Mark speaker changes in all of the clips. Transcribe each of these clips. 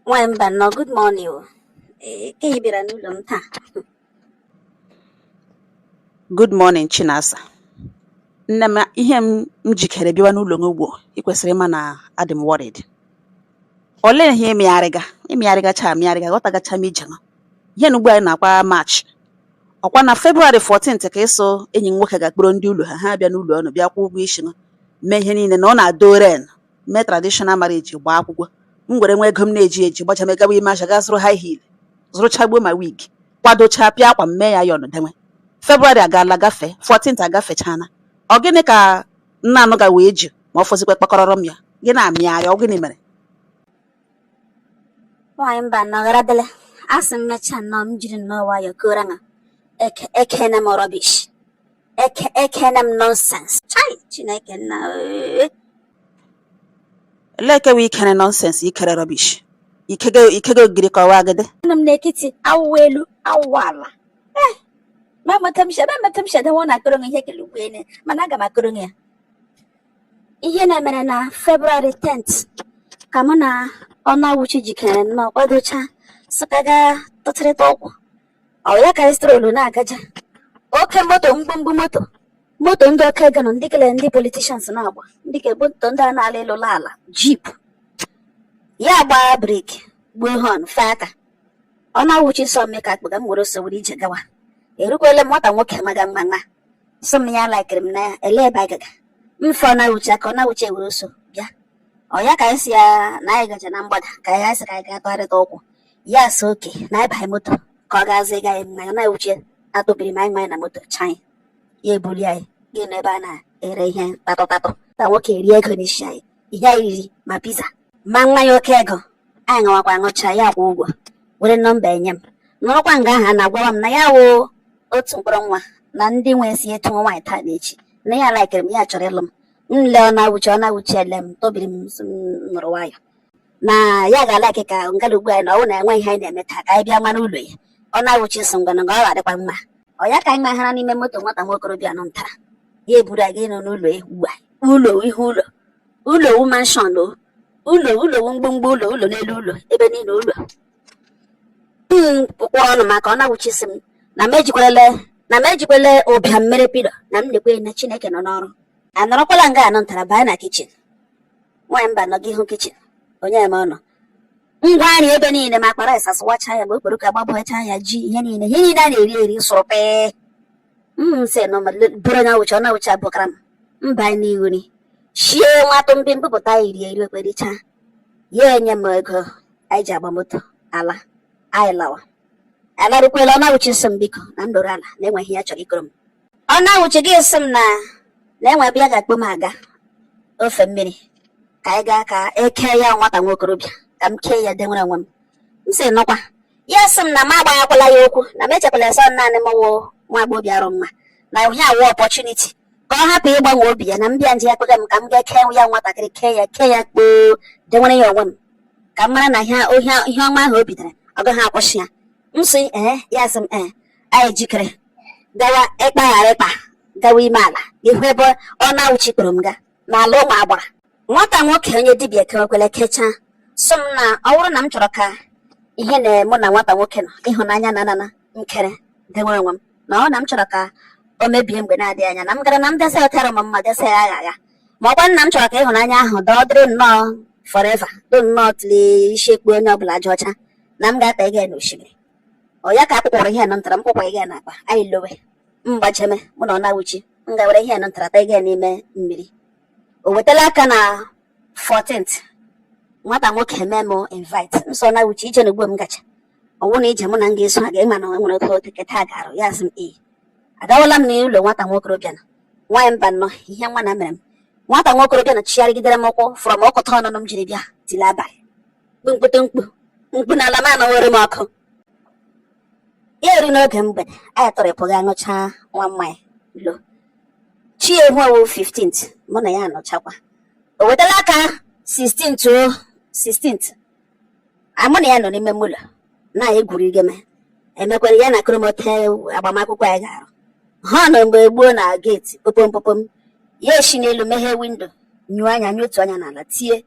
Speaker 1: Nwaanyị
Speaker 2: Mbanọ good morning o. Ee, ka ị bịara n'ụlọ m taa. Good morning Chinasa. Nne m ihe m jikere bịawa n'ụlọ gị ugbu a, ị kwesịrị ịma na adị m worried. Olee ihe ịmịgharịga ịmịgharịgacha amịgharịga ghọtagacha m ije gị. Ihe na ugbu anyị nọkwa March. Ọkwa na February 14th ka ị sị enyi gị nwoke ga-akpọrọ ndị ụlọ ha ha abịa n'ụlọ unu bịa kwụọ ụgwọ isi gị mee ihe niile na ọ na-adore n mee traditional marriage gbaa akwụkwọ m were nwa ego m na-eji eji gbacha m gawa ime ahịa gaa zụrụ high heel zụrụchagbuo ma wig kwadochaa pịa akwa m mee ya iron dewe February agaala gafee 14th agafechana ọ gịnị ka m na-anụga wee ji ma ọ fọzikwa kpakọrọrọ m ya gị na-amịgharị ọ gịnị mere nwaanyị
Speaker 1: Mbanọ gharadịla asị m mechaa nnọọ m jiri nnọọ nwayọọ kọọra na ekeene m rubbish ekeene m nonsense chai Chineke nna
Speaker 2: ee. Elee nke wụ i kere nonsense i kere rubbish i kega i kega ogiri ka ọ wụ agidi anọ m n'ekiti
Speaker 1: awụwa elu awụwa ala Eh, ma amata m shi- ebe amata m shi adanwa ọ na-akọrọ m ihe kele ugbu ene mana aga m akọrọ gị ya ihe na mere na February 10th ka mụ na Ọnụawụchi jikere nnọọ kwadocha sị ka gaa tụgharịta ụkwụ ọ ya ka anyị strolu na-agaja oke moto mgbumgbu moto moto ndị oke ego nọ ndị kele ndị politicians na-agba ndị ka moto ndị a na-ala elu ala jeep ya agbaa brake gbuo horn fee aka Ọnụawụchi sị ọ mụ ka a kpọga m were ọsọ were ije gawa erukwele m nwata nwoke maga mma ya asị m ya laikiri m na ya elee ebe anyị gaga m fee Ọnụawụchi aka Ọnụawụchi ewere ọsọ bịa ọ ya ka anyị sị ya na anyị gaje na mgbada ka anyị sị ka anyị gaa tụgharịta ụkwụ ya asị okay na anyị banye moto ka ọ gaa zụịga anyị mmanya Ọnụawụchi atabiri m anya anyị amanye na moto chanyị ya ebuli anyị gaa n'ebe a na-ere ihe tatọ tatọ nwata nwoke erie ego n'isi anyị ihe anyị riri ma pizza ma mmanya oke ego anyị ṅụwakwa ṅụcha ya akwụ ụgwọ were number ya nye m nọrọkwa nga ahụ na-agwa m na ya wụ otu mkpụrụ nwa na ndị nwe ya sị weta nwa nwaanyị taa na echi na ya laikiri m ya chọrọ ịlụ m m lee Ọnụawụchi Ọnụawụchi ele m tabiri m nọrọ nwayọ na ya ga-alaik ka ngara ugbu anyị na ọ wụ na enweghị ihe anyị na-eme taa ka anyị bịa mara ụlọ ya Ọnụawụchi asị ngwa na ọ ga-adịkwa mma ọ ya ka anyị mahara n'ime moto nwata nwokorobịa nọ ntara ya eburu anyị ịnọ n'ụlọ ya ugbu a ụlọ ihe ụlọ ụlọ wu mansion o ụlọ ụlọ wu mgbomgbo ụlọ ụlọ n'elu ụlọ ebe niile ụlọ m kpụkpọ ọnụ maka Ọnụawụchi asị m na m ejikwele ụbịam mere pillow na m lekwe na Chineke nọ n'ọrụ anọrọkwala nga ahụ nwata a abaa na kitchen nwaanyị mbanọ gị hụ kichin onye eme ọnụ ngwa nri ebe niile ma akpa rice asụwacha ya ma okporoko agbabụcha ya ji ihe niile ihe niile a na-eri eri sụrụ pee m sị na ọ bụrụ onyewuchi onyewuchi abụkara m mba n'ihu ni shie nwa tụmbi m bupụta iri eri okpericha ya enye m ego anyị ji agba moto ala anyị lawa alarukwela onyewuchi sị m biko na m nọrọ ala na enwe ihe ya chọrọ ịkọrọ m onyewuchi gị sị m na na enwe ebe ya ga-akpọ m aga ofe mmiri ka anyị gaa ka e kee ya nwata nwa okorobịa ka m kee ya denwere onwe m m sị no kwa ya sị m na m agbaghakwala ya okwu na m echekwala sọ naanị m wụ nwa agbọghọ bịa arụ mma na ihe a wụ opportunity ka ọ hapụ ịgbanwe obi ya na m bịa nje ya kpọga m ka m gaa kee ya nwatakịrị kee ya kee ya kpoo denwere ya onwe m ka m mara na ihe ọma ahụ o bidoro ọ gaghị akwụsị ya m sị ee ya sị m ee anyị jikere gawa ikpa ghara ikpa gawa ime ala ihu ebe onyewuchi kpọrọ m ga n'ala ụmụ agbara nwata nwoke onye dibịa kewekwele kechaa sị m na ọ bụrụ na m chọrọ ka ịhụnanya mụ na nwata nwoke nọ ịhụnanya na anana m kere dewe onwe m na ọ na m chọrọ ka o mebie mgbe na-adịghị anya na m gara na m desa ọtara m mma desa ya agha agha ma ọ wụkwa na m chọrọ ka ịhụnanya ahụ dọọ dịrị nnọọ forever do nnọọ tili isi ekpu onye ọbụla ajị ọcha na m ga-atụga ya n'osimiri ọ ya ka a kpụkpọrọ ihe nọ ntara m kpụkwaga n'akpa anyị lowe mgbacheme mụ na onyewuchi m ga were ihe nọ ntara tụga n'ime mmiri o wetala aka na 14th nwata nwoke eme m invite m sị onyewuchi ije na ugbo m gacha ọ wụ na ije mụ na m ga-eso ha ga-ịma na nwere oke otu keta ga-arụ ya sị m ee agawala m n'ụlọ nwata nwokorobịa na nwaanyị mbanọ ihe nwa na mere m nwata nwokorobịa na chigharịgidere m ụkwụ fụrọ m ọkụta ọnụnụ m jiri bịa tili abalị mkpụtụ mkpu mkpu na ala m anwụwere m ọkụ ya eru n'oge mgbede anyị tọrịpụ ga aṅụcha nwa mmanya lo chi ehu ọ wụ 15th mụ na ya anọchakwa o wetala aka 16th o 16th mụ na ya nọ n'ime ụlọ na-egwuri igeme emekwere ya na-akọrọ m otu agbamakwụkwọ anyị ga-arụ họn egbuo na geeti popom popom ya esi n'elu meghee windo nyụọ anya nyụọ otu anya n'ala tie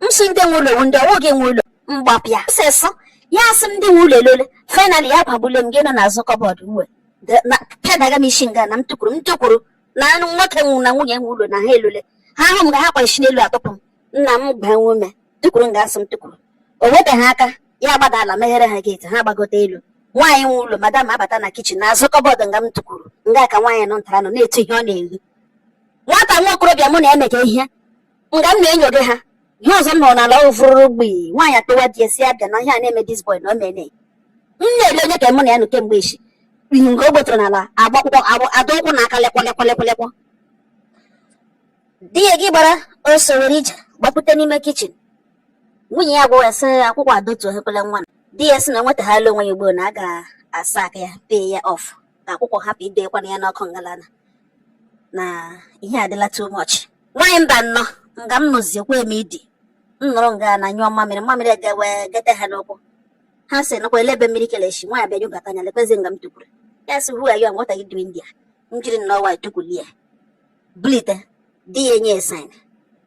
Speaker 1: m sị ndị nwe ụlọ wụ ndị ọ wụ gị nwe ụlọ mgbapịa sịsụ ya asị m ndị nwe ụlọ elole finally ya gbagbule m gị nọ n'azụ kọbọd uwe pịadaga m isi nga na m tụkwuru m tụkwuru na anụ nwoke nwe ụlọ na nwunye nwe ụlọ na ha elole ha hụ m nga ha ga-eshi n'elu atụpụ m na m gbaa nwe ume tụkwuru nga a sị m tụkwuru o weteghị aka ya gbada ala meghere ha geeti ha gbagote elu nwaanyị nwe ụlọ madam abata na kichin n'azụ kọbọd nga m tụkwuru nga ka nwaanyị nọ ntara nọ na-etu ihe ọ na-ehi nwata nwa okorobịa mụ na ya mega ihe nga m na-enyode ha ihe ọzọ m nụrụ n'ala ọ wụ fụrụrụ gbii nwaanyị akpọwa di e sị a bịa na ihe a na-eme this boy na o mene m na-ele Onyeka mụ na ya nọ kemgbe echi ihe nke o gbotara n'ala agba akwụkwụ adọ ụkwụ na aka lekwa lekwa lekwa lekwa di ya gị gbara ọsọ were ije gbapụta n'ime kichin nwunye ya gwara sị ya akwụkwụ adọtukwala nwa di ya sị na o nwetahala onwe ya ugbu a na a ga-asaka ya pay ya off ka akwụkwụ hapụ idekwana ya n'ọkụ ngalana na ihe adịla too much nwaanyị Mbano nga m nọziekwa eme idi m nọrọ nga na nyụọ mmamịrị mmamịrị egewe gete ha n'ụkwụ ha sị nakwa elee ebe mmiri kele shi nwaanyị abịa nyokata anya lekwezi nga m tukwuru ya sị who are you and what are you doing there m jiri nnọọ nwayọọ tukwulie bulite di ya enye ya sign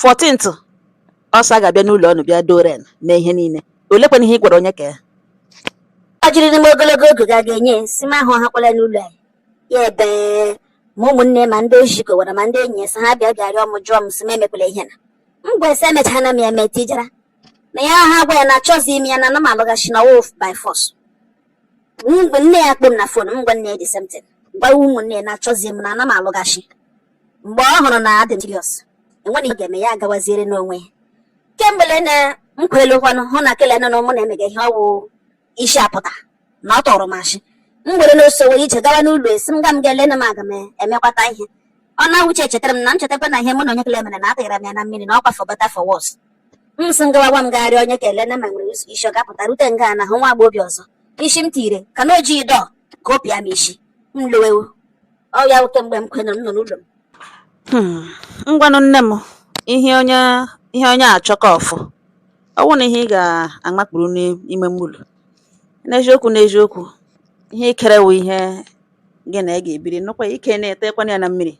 Speaker 2: 14th ọsọ a ga-abịa n'ụlọ ụnụ bịa doren mee ihe niile olekwana ihe ị gwara Onyeka ya
Speaker 1: ọ jiri n'ime ogologo oge ga ga-enye si m ahụ hakwala n'ụlọ anyị ya ebe ma ụmụnne ma ndị o ji kọwara ma ndị enyi ya sị ha bịa bịa rịọ m jụọ m sị m emekwala ihe na m gwa e sị emechana m ya eme tijara na ya ha gwa ya na achọzi m ya na ana m alụghachi na ọ wụhụ by force mgbe nne ya kpọ m na fon m gwa nne ya the same thing gwa ụmụnne ya na achọzi m na ana m alụghachi mgbe ọ hụrụ na adị m serious enweghị ihe ga-eme ya agawaziere n'onwe ya kemgbe lene m kwelu kwanụ hụ na kele nọ mụ na-emega ihe ọ wụ isi apụta na ọ tụrụ m ashị m were n'ọsọ were ije gawa n'ụlọ asị m ka m gaa lee na m aga m emekwata ihe ọ na-awụche chetara m na m chetakwa na ihe mụ na onye kele mere na atịghara m ya na mmiri na ọkwa for better for worse m sị ngawawa m gagharị Onyeka elena ma o nwere ụzọ isi ọ ga-apụta rute nga na hụ nwa agbọghọbịa ọzọ isi m tire ka na o ji odo ka ọ pịa m isi m lowewo ọ ya bụ kemgbe m kwena m nọ n'ụlọ m
Speaker 2: Hmm, ngwanụ nne m ihe onye ihe onye chọ ka ọ fụ ọ bụrụ na ihe ị ga-amakpuru n'ime mmiri n'eziokwu n'eziokwu ihe i kere wụ ihe gị na ya ga-ebiri nụkwa i kena etekwana ya na mmiri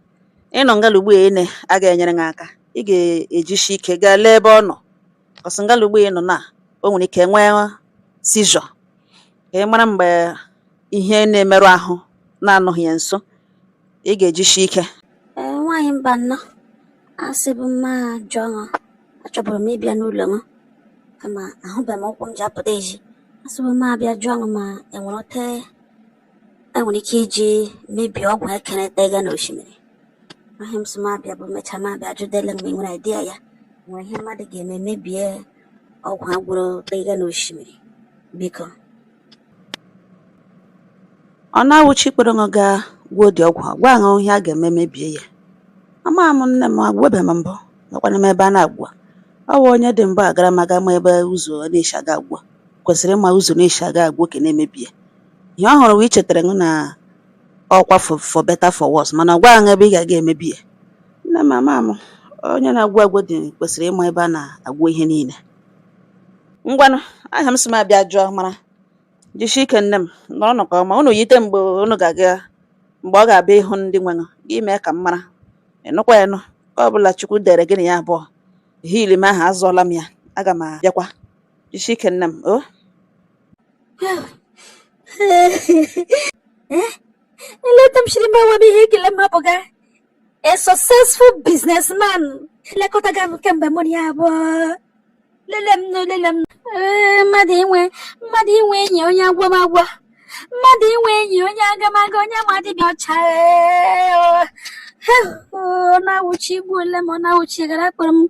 Speaker 2: ị nọ ngala ugbu a ene a ga-enyere gị aka ị ga-ejisi ike gaa lee ebe ọ nọ cos ngala ugbu a ị nọ na o nwere ike nwee seizure ka ị mara mgbe ihe na-emerụ ahụ na ị nọghị ya nso ị ga-ejisi ike ee nwaanyị
Speaker 1: Mbano asịbu m m ajụọ ụnụ achọburu m ịbịa n'ụlọ ụnụ kama ahụbeghị m ụkwụ m ji apụta ezi asịbu m m abịa jụọ ụnụ ma e nwere otu e nwere ike iji mebie ọgwụ e kere tega n'osimiri ahịa m sị m abịa bụ mechaa m abịa jụdele ma ị nwere idea ya nwere ihe mmadụ ga-eme mebie ọgwụ a gwọrọ tega n'osimiri biko
Speaker 2: ọnawụchi kpọrọ m gaa gwọọ di ọgwụ gwa m ihe a ga-eme mebie ya ama m nne m agwọbeghị m mbụ nọkwana m ebe a na-agwọ ọ wụ onye dị mbụ agara aga ma ebe ụzọ na-esi aga agwọ kwesịrị ịma ụzọ na-esi aga agwọ nke na-emebie ihe ọ hụrụ wee chetara m na ọkwa for for better for worse mana gwa m ebe ị ga-aga emebi ya nne m ama m onye na-agwọ ọgwụ di kwesịrị ịma ebe a na-agwọ ihe niile ngwanụ aha m sị m abịa jụọ mara jisie ike nne m nọrọ nke ọma unu yite mgbe unu ga-aga mgbe ọ ga-abịa ịhụ ndị nwenụ gị mee ka m mara ị nụkwa ya nụ ka ọ bụla chukwu dere gị na ya abụọ ihe ili m ahụ azụọla m ya aga m abịakwa jisie ike nne m
Speaker 1: o lee etu m shiri gbuo onwe m ihe ekele m abụga A successful businessman elekọtaga m kemgbe mụ na ya abụọ lele m nụ lele m ee mmadụ inwe mmadụ inwe enyi onye agwọ m agwọ mmadụ inwe enyi onye aga m aga onye ma dibịa ọcha ọnawụchi i gbuole m ọnawụchi gara kpọrọ m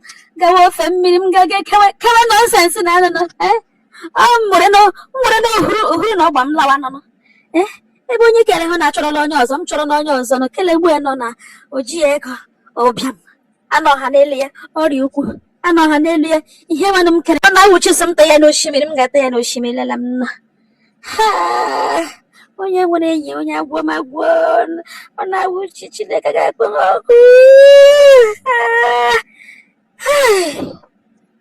Speaker 1: gawa ofe mmiri m gaga kewe nọnsensị na anụnụ m were na ohuru na ọgba m lawa nọ eh, ebe onye kere ha na-achọrọ na onye ọzọ m chọrọ na onye ọzọ nọ kele gbu ya nọ na o ji ego ụbịam anọ ha n'elu ya ọrịa ukwu anọ ha n'elu ya ihe nwanne m kere ọnawụchi sị m ta ya n'osimiri m ga-ata ya n'osimiri lela m nna onye nwere enyi onye agwọ m agwọ ọnawụchi chineke ga-akpọ m ọkụ